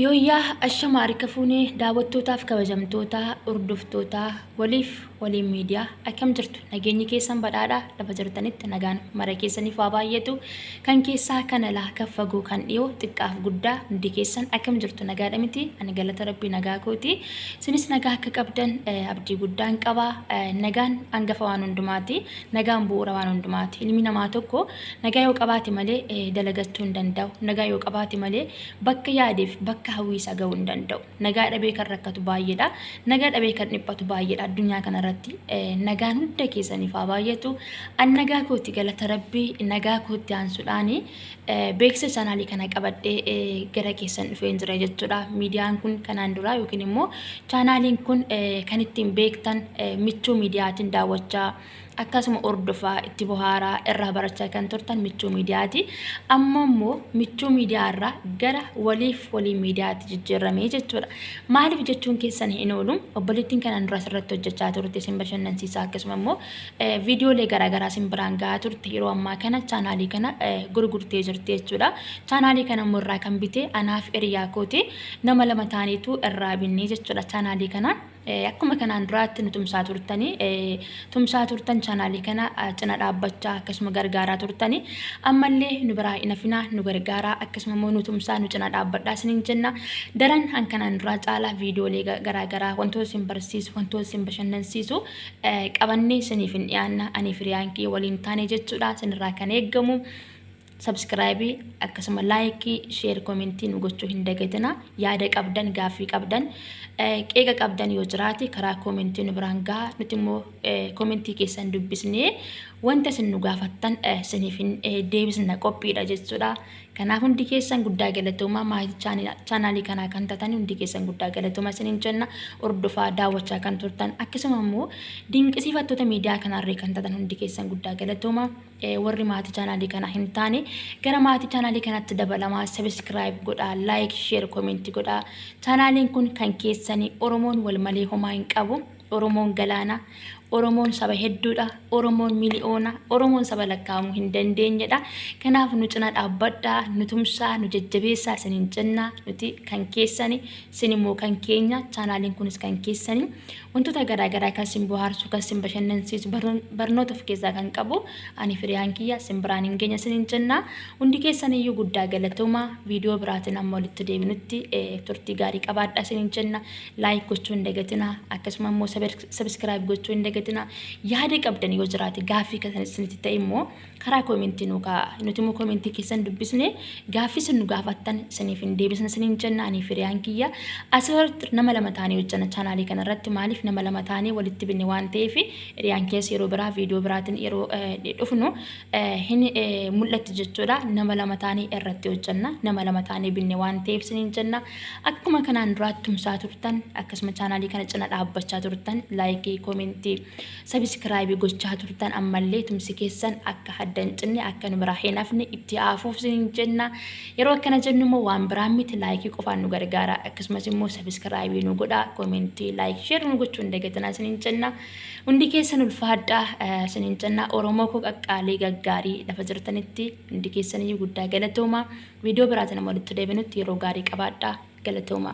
Yooyyaa ashama harka fuune daawwattootaaf kabajamtoota hordoftoota waliif waliin miidiyaa akkam jirtu nageenyi keessan badhaadha lafa jirtanitti nagaan mara keessaniif waa baay'atu kan keessaa kan alaa kan fagoo kan dhiyoo xiqqaaf guddaa hundi keessan akkam jirtu nagaadha miti ani galata rabbii nagaa kooti isinis nagaa akka qabdan eh, abdii guddaan qaba Eh, nagaan hangafa waan hundumaati nagaan bu'uura waan hundumaati ilmi namaa tokko Nagaa yoo qabaate malee dalagachuu hin danda'u. Nagaa yoo qabaate malee bakka yaadeef bakka hawwii isaa ga'uu hin danda'u. Nagaa dhabee kan rakkatu baay'eedha. Nagaa dhabee kan dhiphatu baay'eedha addunyaa kanarratti. Nagaan hunda keessaniif haa baay'atu. An nagaa kooti galata rabbii nagaa kootti aansuudhaan beeksisa chaanaalii kana qabadhee gara keessan dhufee hin jira jechuudha. Miidiyaan kun kanaan duraa yookiin immoo chaanaaliin kun kan ittiin beektan michuu miidiyaatiin daawwachaa Akkasuma hordofaa, itti bohaaraa, irraa barachaa kan turtan michuu miidiyaati. Amma immoo michuu miidiyaa irraa gara waliif walii miidiyaatti jijjiirramee jechuudha. Maaliif jechuun keessan hin oolu obboleettiin kanaan duras irratti hojjechaa turte isin bashannansiisaa akkasuma immoo viidiyoolee garaagaraa isin biraan gahaa turte yeroo ammaa kana chaanaalii kana gurgurtee jirti jechuudha. Chaanaalii kana immoo irraa kan bite anaaf hiriyaa kooti nama lama taaneetu irraa binnee jechuudha chaanaalii kana. Akkuma kanaan duraatti nu tumsaa turtanii tumsaa turtan chaanaalii kana cina dhaabbachaa akkasuma gargaaraa turtanii ammallee nu biraa hin hafinaa nu gargaaraa akkasuma immoo nu tumsaa nu cina dhaabbadhaa isiniin jenna daran kan kanaan duraa caalaa viidiyoolee garaagaraa wantoota isin barsiisu wantoota isin bashannansiisu qabannee isiniif hin dhiyaanna anii firiyaan kiyya waliin taane jechuudha isinirraa kan eeggamu Subscribe akkasuma like share comment nu gochuu hin dagatina yaada qabdan gaaffii qabdan qeeqa qabdan yoo jiraate karaa comment nu biraan gaha nuti immoo comment keessan dubbisnee wanta isin nu gaafattan isiniif hin deebisna qophiidha jechuudha kanaaf hundi keessan guddaa galatoomaa maatii chaanaalii kanaa kan tatan hundi keessan guddaa galatoomaa isiniin jenna hordofaa daawwachaa kan turtan akkasuma immoo dinqisiifattoota miidiyaa kanarree kan tatan hundi keessan guddaa galatoomaa Warri maatii chaanaalii kanaa hin taane gara maatii chaanaalii kanatti dabalamaa sabiskiraayib godhaa laayik sheer koomenti godhaa chaanaaliin kun kan keessanii oromoon wal malee homaa hin qabu oromoon galaana oromoon saba hedduudha oromoon miliyoona oromoon saba lakkaa'amuu hin dandeenyedha kanaaf nu cina dhaabbadhaa nu tumsaa nu jajjabeessaa isiniin jennaa nuti kan keessanii isin immoo kan keenya chaanaaliin kunis kan keessanii Wantoota garaa garaa kan sin bohaarsu, kan sin bashannansiisu, barnoota of keessaa kan qabu ani firiyaan kiyya sin biraan hin geenya sinin jenna. Hundi keessan iyyuu guddaa galatooma. Viidiyoo biraatiin amma walitti deebinutti turtii gaarii qabaadhaa sinin jenna. Laayik gochuu hin dagatina. Akkasuma immoo sabiskiraayib gochuu hin dagatina. Yaada qabdan yoo jiraate gaaffii kan isinitti ta'e immoo karaa koomentii nuu kaa'aa. Nuti immoo koomentii keessan dubbisne gaaffii isin nu gaafattan isiniif hin deebisna isiniin jenna anii firiyaan kiyya. Asirratti nama lama taanee hojjana chaanaalii kana irratti maaliif nama lama taanee walitti binne waan ta'eef hiriyaan keessa yeroo biraa viidiyoo biraatiin yeroo dhufnu hin mul'atti jechuudha. Nama lama taanee irratti hojjanna nama lama taanee binne waan ta'eef isiniin jenna. Akkuma kanaan duraatti tumsaa turtan akkasuma chaanaalii kana cina dhaabbachaa turtan laayikii koomentii Sabiskiraayibi gochaa turtan ammallee tumsi keessan akka hadda hin cinne akka nu biraa hin hafne itti haafuuf sin jenna yeroo akkana jennu immoo waan biraan miti laayikii qofaan nu gargaara akkasumas immoo sabiskiraayibii nu godha koomentii laayik sheer nu gochuu hin dagatinaa sin jenna hundi keessan ulfaadha sin jenna oromoo koo qaqqaalii gaggaarii lafa jirtanitti hundi keessan iyyuu guddaa galatooma viidiyoo biraatiin amma walitti deebinutti yeroo gaarii qabaadha galatooma.